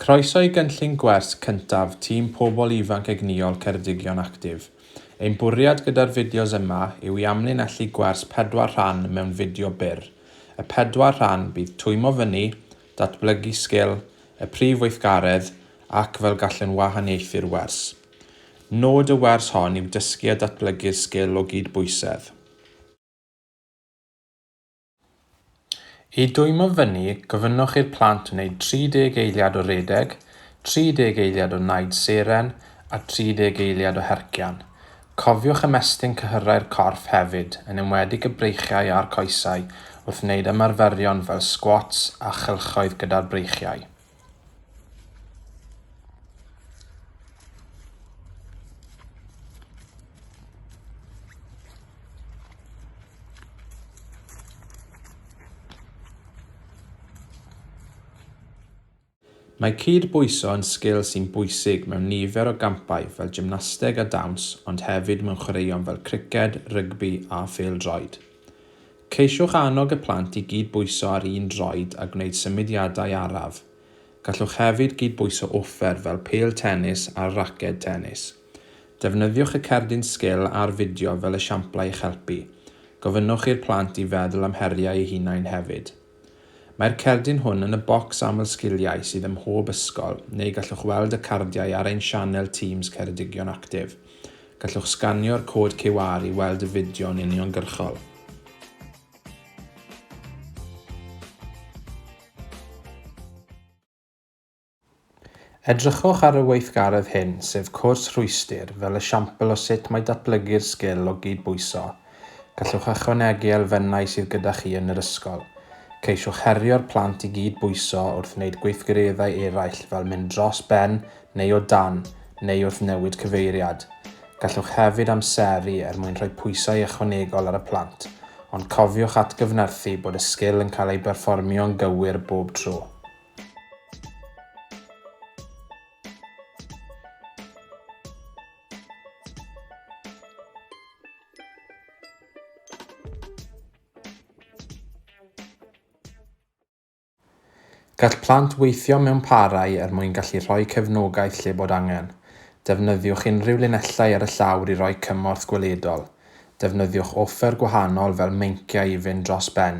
Croeso i gynllun gwers cyntaf Tîm Pobl Ifanc Egnïol Ceredigion Actif. Ein bwriad gyda'r fideos yma yw i amlinellu gwers pedwar rhan mewn fideo byr. Y pedwar rhan bydd twymo fyny, datblygu sgil, y prif weithgaredd, ac fel gallwn wahaniaethu'r wers. Nod y wers hon yw dysgu a datblygu'r sgil o gyd-bwysedd. I dwymo fyny, gofynnwch i'r plant wneud 30 eiliad o redeg, 30 eiliad o naid seren a 30 eiliad o hercian. Cofiwch ymestyn cyhyrau'r corff hefyd, yn enwedig y breichiau a'r coesau, wrth wneud ymarferion fel sgwats a chylchoedd gyda'r breichiau. Mae cyd-bwyso yn sgil sy'n bwysig mewn nifer o gampau fel gymnasteg a dawns ond hefyd mewn chwaraeon fel criced, rygbi a phêl-droed. Ceisiwch annog y plant i gyd-bwyso ar un droed a gwneud symudiadau araf. Gallwch hefyd gyd-bwyso offer fel pêl tenis a raced tenis. Defnyddiwch y cerdyn sgil a'r fideo fel esiamplau i'ch helpu. Gofynnwch i'r plant i feddwl am heriau eu hunain hefyd. Mae'r cerdyn hwn yn y bocs aml sgiliau sydd ym mhob ysgol, neu gallwch weld y cardiau ar ein sianel Teams Ceredigion Actif. Gallwch sganio'r cod QR i weld y fideo'n uniongyrchol. Edrychwch ar y weithgaredd hyn, sef cwrs rhwystr, fel esiampl o sut mae datblygu'r sgil o gyd-bwyso. Gallwch ychwanegu elfennau sydd gyda chi yn yr ysgol. Ceisiwch herio'r plant i gyd-bwyso wrth wneud gweithgareddau eraill fel mynd dros ben neu o dan, neu wrth newid cyfeiriad. Gallwch hefyd amseru er mwyn rhoi pwysau ychwanegol ar y plant, ond cofiwch atgyfnerthu bod y sgil yn cael ei berfformio'n gywir bob tro. Gall plant weithio mewn parau er mwyn gallu rhoi cefnogaeth lle bod angen. Defnyddiwch unrhyw linellau ar y llawr i roi cymorth gweledol. Defnyddiwch offer gwahanol fel meinciau i fynd dros ben,